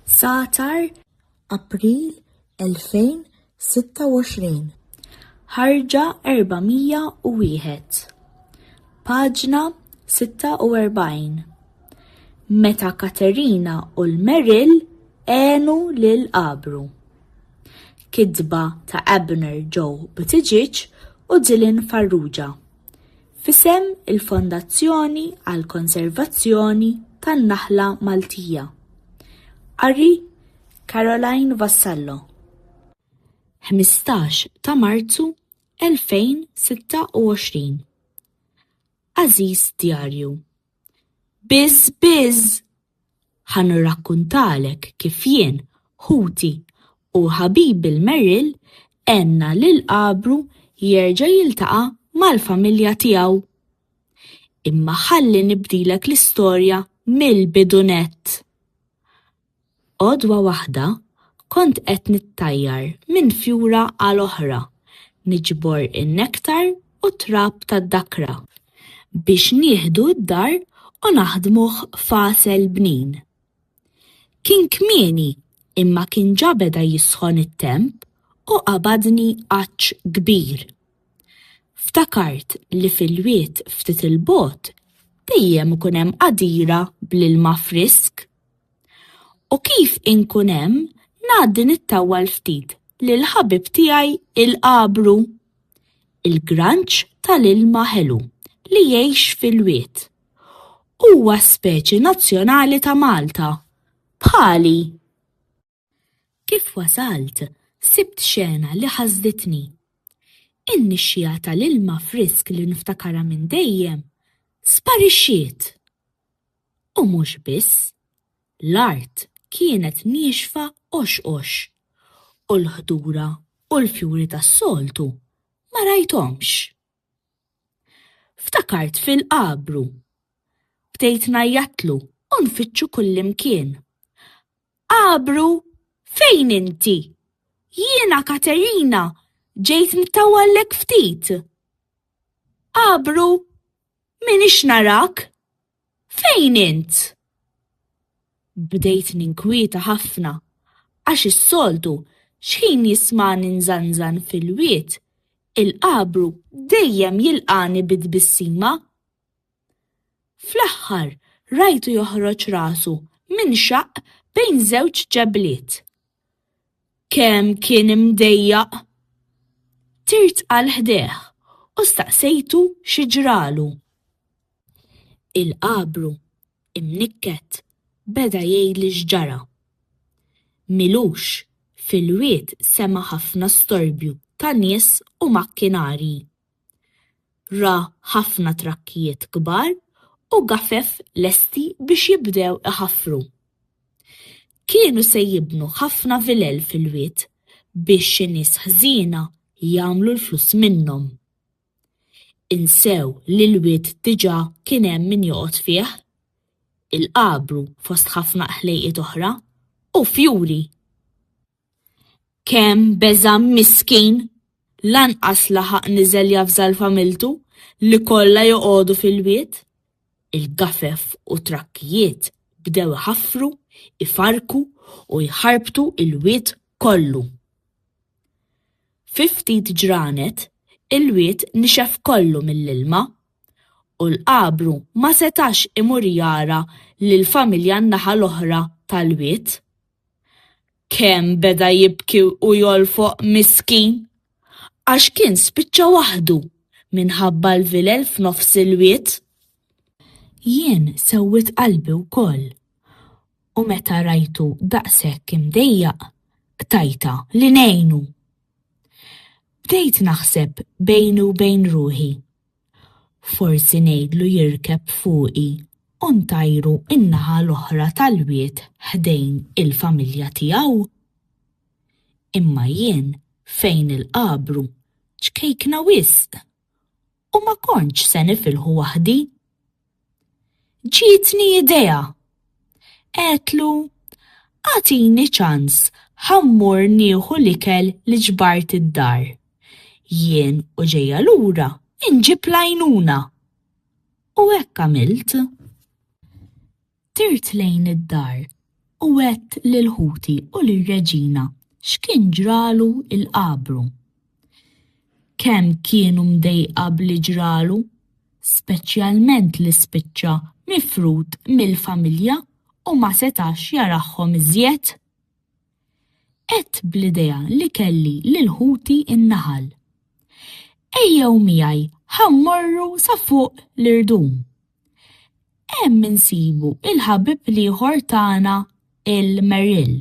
Satar, April 2026. Ħarġa 401. Paġna 46. Meta Katerina u l-Merrill għenu lil Abru. Kidba ta' Abner Joe Buttigieg u Dylan Farrugia. F'isem il-Fondazzjoni għall-Konservazzjoni tan-Naħla Maltija. Qari Caroline Vassallo. 15 ta' Marzu 2026 Għażiż Djarju, Biz biz! Ħa nirrakkuntalek kif jien, ħuti, u ħabibi l-Merrill għenna lil Għabru jerġa' jiltaqa' mal-familja tiegħu. Imma ħalli nibdilek l-istorja mill-bidu nett. Għodwa waħda kont qed nittajjar minn fjura għal oħra niġbor in-nektar u t-trab tad-dakra biex nieħdu d-dar u naħdmuh f'għasel bnin. Kien kmieni imma kien ġa beda jisħon it-temp u qabadni għatx kbir. Ftakart li fil-wied ftit 'il bogħod dejjem ikun hemm qadira bl-ilma frisk. U kif inkun hemm, ngħaddi nittawwal ftit lil ħabib tiegħi il-qabru. Il-granċ tal-ilma ħelu li jgħix fil-wied. Huwa speċi nazzjonali ta' Malta, bħali. Kif wasalt, sibt xena li ħasditni. In-nixxiegħa tal-ilma frisk li niftakarha minn dejjem sparixxiet! U mhux biss, l-art kienet niexfa qoxqox u l-ħdura u l-fjuri tas-soltu ma rajthomx. Ftakart fil-qabru. Bdejt ngħajjatlu u nfittxu kullimkien. Għabru, fejn inti? Jiena Katerina, ġejt mtawallek ftit. Għabru, minix narak? Fejn int? Bdejt ninkwieta ħafna, għax is-soltu xħin jismani nżanżan fil-wied, il-Għabru dejjem jilqani bi tbissima. Fl-aħħar, rajtu joħroġ rasu minxaqq bejn żewġ ġebliet. Kemm kien imdejjaq! Tirt għal ħdejh u staqsejtu xi ġralu. Il-qabru, imnikket, beda jgħidli x'ġara. Milux, fil-wied sema' ħafna storbju ta' nies u makkinarji. Ra ħafna trakkijiet kbar u gafef lesti biex jibdew iħaffru. Kienu se jibnu ħafna vilel fil-wied biex xi nies ħżiena jagħmlu l-flus minnhom. Insew li l-wied diġà kien hemm min joqgħod fih, il-Qabru fost ħafna qħlejqiet oħra, u fjuri! Kemm beża' miskin! Lanqas laħaq niżel javżal familtu li kollha joqogħdu fil-wied. Il-gafef u t-trakkijiet bdew iħaffru, ifarrku u jħarbtu l-wied kollu. Fi ftit ġranet, il-wied nixef kollu mill-ilma u l-qabru ma setax imur jara lill-familja n-naħa l-oħra tal-wied. Kemm beda jibki u jolfoq miskin għax kien spiċċa waħdu minħabba l-vilel f'nofs il-wied. Jien sewwiet qalbi wkoll u meta rajtu daqshekk imdejjaq qtajtha li ngħinu. Bdejt naħseb bejni u bejn ruħi. Forsi ngħidlu jirkeb fuqi u ntajru n-naħa l-oħra tal-wied ħdejn il-familja tiegħu? Imma jien fejn il-qabru ċkejkna wisq u ma kontx se nifilħu waħdi. Ġietni idea. Għetlu, għatini ċans ħammur nieħu l-ikel li ġbart id-dar. Jien u ġejja lura inġib lajnuna. U hekk għamilt. Tirt lejn id-dar u għedt lil ħuti u lir-reġina x'kien ġralu il-qabru. Kemm kienu mdejqa b'li ġralu, speċjalment li spiċċa mifrud mill-familja u ma setax jarahhom iżjed. Għedt bl-idea li kelli lil ħuti n-naħal. Ejjew miegħi ħa mmorru sa fuq l-irdum, Hemm insibu il-ħabib l-ieħor tagħna il-Merrill.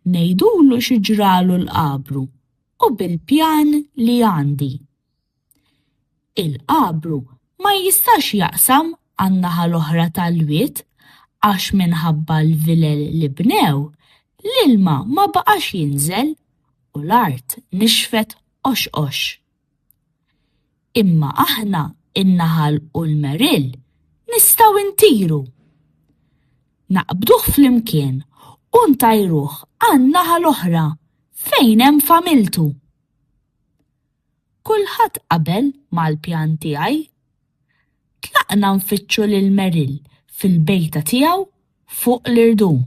Ngħidulu xi ġralu l-qabru u bil-pjan li għandi. Il-qabru ma jistax jaqsam għan-naħa l-oħra tal-wied għax minħabba l-vilel li bnew, l-ilma ma baqax jinżel u l-art nixfet qoxqox. Imma aħna, in-naħal u l-meril, nistgħu ntiru. Naqbduh flimkien u ntajruh għan-naħa l-oħra fejn hemm familtu. Kulħadd qabel mal-pjan tiegħi. Tlaqna nfittxu lil Meril fil-bejta tiegħu fuq l-irdum.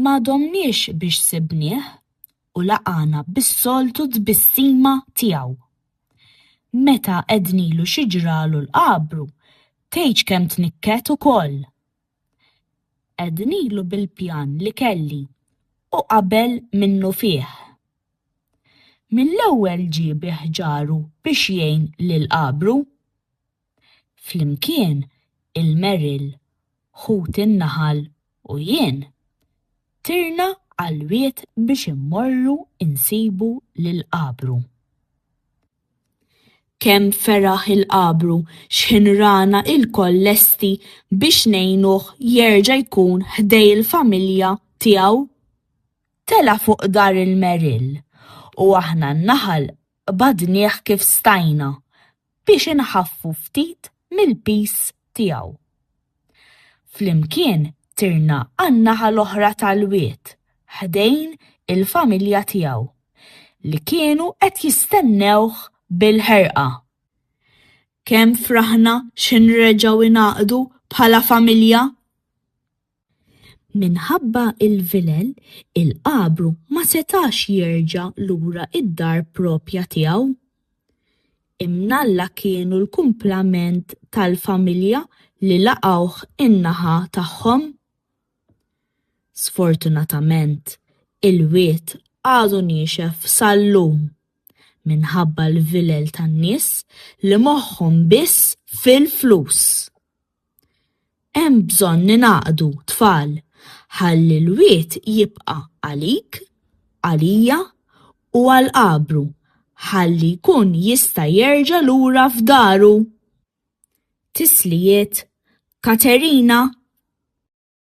Ma domniex biex sibnieh. u laqagħna bis-soltu tbissima tiegħu. Meta għednilu xi ġralu l-qabru, tgħidx kemm tnikket ukoll! Għednilu bil-pjan li kelli u qabel minnufih. Mill-ewwel ġie bi ħġaru biex jgħin lill-qabru. Flimkien il-Merrill, ħut in-naħal u jien, tirna għall-wied biex immorru nsibu lill-qabru. Kemm feraħ il-qabru x'ħin rana lkoll lesti biex ngħinuh jerġa' jkun ħdej il-familja tiegħu! Tela' fuq dar il-Merrill u aħna n-naħal qbadnieh kif stajna, biex inħaffu ftit mill-piż tiegħu. Flimkien tirna għan-naħa l-oħra tal-wied, ħdejn il-familja tiegħu, li kienu qed jistennewh bil-ħerqa. Kemm fraħna xi nreġgħu ngħaqdu bħala familja! Minħabba l-vilel, il-qabru ma setax jerġa' lura d-dar proprja tiegħu. Imnalla kienu l-kumplament tal-familja li laqgħuh in-naħa tagħhom. Sfortunatament, il-wied għadu niexef sal-lum minħabba l-vilel tan-nies li moħħhom biss fil-flus. Hemm bżonn ningħaqdu tfal ħalli l-wied jibqa' għalik, għalija u għal qabru ħalli jkun jista' jerġa' lura f'daru! Tislijiet, Katerina.